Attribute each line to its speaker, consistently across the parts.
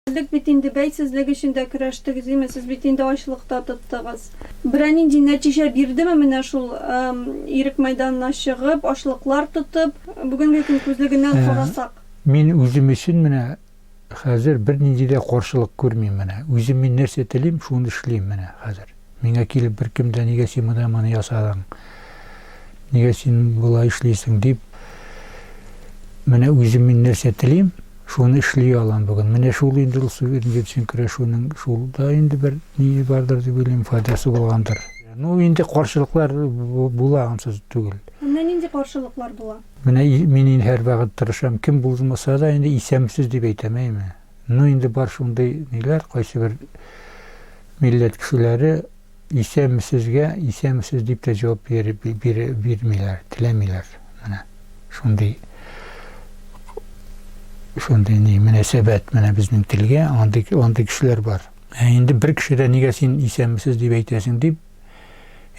Speaker 1: Элек бит инде бәйсезлек өчен дә көрәштегез, димме, сез бит инде ачлык та тоттыгыз. Берәр нинди нәтиҗә бирдеме менә шул Ирек мәйданына чыгып, ачлыклар тотып, бүгенге көн күзлегеннән карасак? Мин үзем
Speaker 2: өчен менә хәзер бернинди дә каршылык күрмим менә. Үзем мин нәрсә телим, шуны эшлим менә хәзер. Миңа килеп беркем дә нигә син менә моны ясадың, нигә син болай эшлисең дип, менә үзем мин нәрсә телим, шуны эшли алам бүген. Менә шул инде ул суверен җитсен көрәшүнең шул да инде бер ни бардыр дип уйлыйм, файдасы булгандыр. Ну, инде каршылыклар була ансыз түгел. Менә нинди
Speaker 1: каршылыклар була? Менә мин инде
Speaker 2: һәрвакыт тырышам, кем булмаса да инде исәмсез дип әйтәм, әйме? Ну инде бар шундый ниләр, кайсыбер милләт кешеләре исәнмесезгә исәнмесез дип тә җавап бирмиләр, теләмиләр. Менә шундый шундый ни мөнәсәбәт менә безнең телгә, андый андый кешеләр бар. Ә инде бер кеше дә нигә син исәнмесез дип әйтәсең дип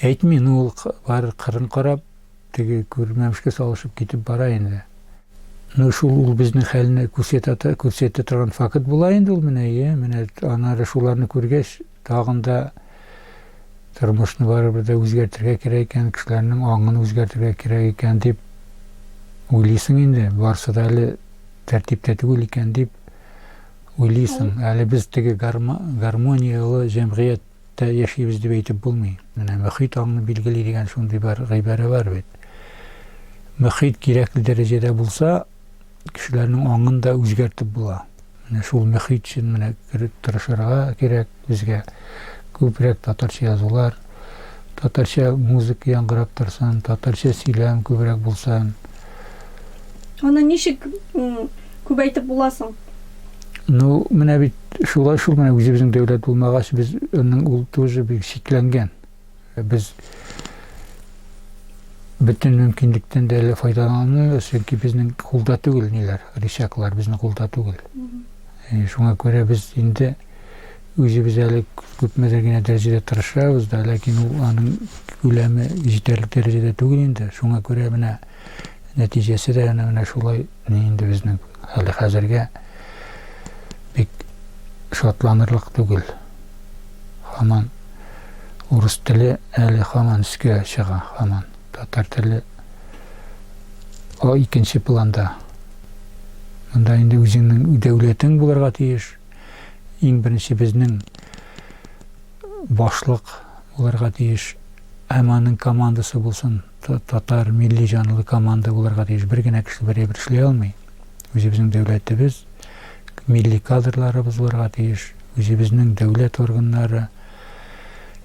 Speaker 2: әйтми, ну ул бар кырын карап, Теге күрмәмешкә салышып китеп бара инде. Ну шул ул безнең хәлне күрсәтә күрсәтә торган факт була инде ул менә ие менә аннары шуларны күргәч тагын да тормышны барыбер дә үзгәртергә кирәк икән кешеләрнең аңын үзгәртергә кирәк икән дип уйлыйсың инде барысы да әле тәртиптә түгел икән дип уйлыйсың әле без теге гармонияле җәмгыять Тә яшибез дип әйтеп булмый. Менә мөхит аңны билгели дигән шундый бер гыйбарә бар бит. Мөхит кирәкле дәрәҗәдә булса, кешеләрнең аңын да үзгәртеп була. Менә шул мөхит өчен менә тырышырга кирәк безгә. Күбрәк татарча язулар, татарча музыка яңгырап торсын, татарча сөйләм күбрәк булсын.
Speaker 1: Аны ничек күбәйтеп була соң? Ну,
Speaker 2: менә бит шулай шул менә үзебезнең дәүләт булмагач, без аның ул тоже бик чикләнгән. Без бөтен мөмкинлектән дә әле файдаланмыйбыз, чөнки безнең кулда түгел ниләр, рычаглар безнең кулда түгел. Шуңа күрә без инде Үзебез әле күпмедер генә дәрәҗәдә тырышабыз да, ләкин ул аның күләме җитәрлек дәрәҗәдә түгел инде. Шуңа күрә менә нәтиҗәсе дә әнә менә шулай инде безнең әле хәзергә бик шатланырлык түгел. Хаман урыс теле әле хаман өскә чыга, хаман татар теле икенче планда. Монда инде үзеңнең дәүләтең булырга тиеш. Иң беренче безнең башлык булырга тиеш, һәм аның командасы булсын, татар милли җанлы команда булырга тиеш. Бер генә кеше бер әйбер эшли алмый. Үзебезнең дәүләтебез, милли кадрларыбыз булырга тиеш. Үзебезнең дәүләт органнары,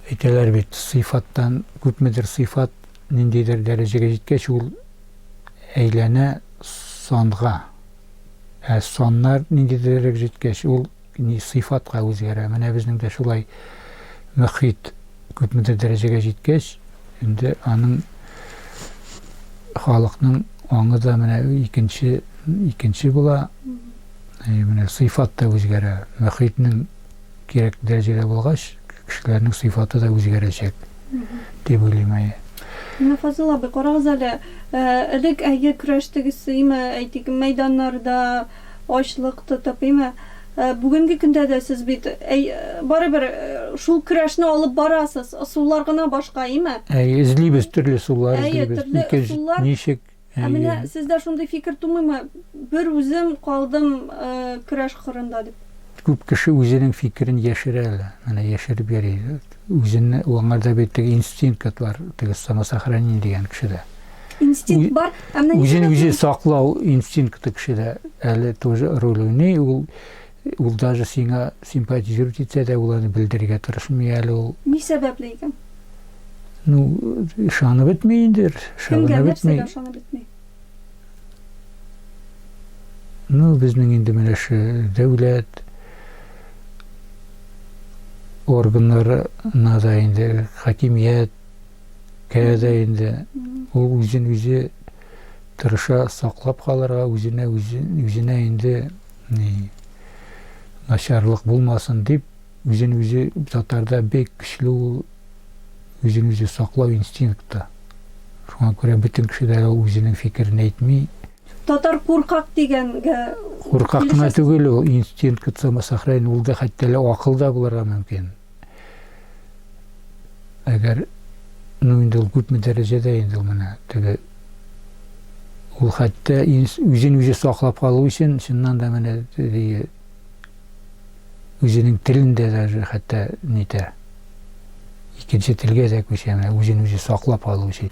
Speaker 2: әйтәләр бит, сыйфаттан күпмедер сыйфат ниндидер дәрәҗәгә җиткәч, ул әйләнә санга. Ә саннар нинди дәрәҗәгә җиткәч, ул ни сыйфатка үзгәрә. Менә безнең дә шулай мөхит күпмедер дәрәҗәгә җиткәч, инде аның халыкның аңы да менә икенче, икенче була, менә сыйфат та үзгәрә. Мөхитнең Кирәк дәрәҗәдә булгач, кешеләрнең сыйфаты да үзгәрәчәк, дип уйлыйм. Әйе. Менә Фазыл
Speaker 1: абый, карагыз әле, элек әйе көрәштегез, әйме, әйтик, мәйданнарда ачлык тотып, әйме, бүгенге көндә дә сез бит, әй, барыбер шул көрәшне алып барасыз, ысуллар гына башка, әйме? Әйе, эзлибез,
Speaker 2: төрле ысуллар эзлибез. Әйе, төрле ысуллар. Ничек? Ә менә сездә
Speaker 1: шундый фикер тумыймы, бер үзем калдым көрәш кырында дип? Күп кеше үзенең
Speaker 2: фикерен яшерә лә, менә яшереп йөри. Үзенне, аңарда бит теге инстинкт кыт бар, теге самосохранение дигән кешедә. Инстинкт бар,
Speaker 1: ә менә ничек? Үзен үзе
Speaker 2: саклау инстинкты кешедә әле тоже роль уйный, ул Ул даже сиңа симпатизировать итсә дә, ул аны белдерергә тырышмый әле ул. Ни сәбәпле
Speaker 1: икән? Ну,
Speaker 2: ышанып бетми инде, ышанып бетми. Кемгә, нәрсәгә ышанып бетми? Ну, безнең инде менә шу дәүләт органнарына да инде, хакимияткә дә инде. Ул үзен үзе тырыша саклап калырга, үзенә үзенә инде Ни начарлык булмасын дип, үзен-үзе татарда бик көчле ул үзен-үзе саклау инстинкты. Шуңа күрә бөтен
Speaker 1: кеше дә
Speaker 2: үзенең фикерен әйтми. Татар куркак
Speaker 1: дигәнгә
Speaker 2: Куркак кына түгел ул, инстинкт самосохранения, ул да хәтта лә акыл да булырга мөмкин. Әгәр, ну инде ул күпме дәрәҗәдә инде ул менә теге ул хәтта үзен үзе саклап калу өчен чыннан да менә теге үзенең телен дә даже хәтта нитә. Икенче телгә дә күчә, менә үзен үзе саклап калу өчен.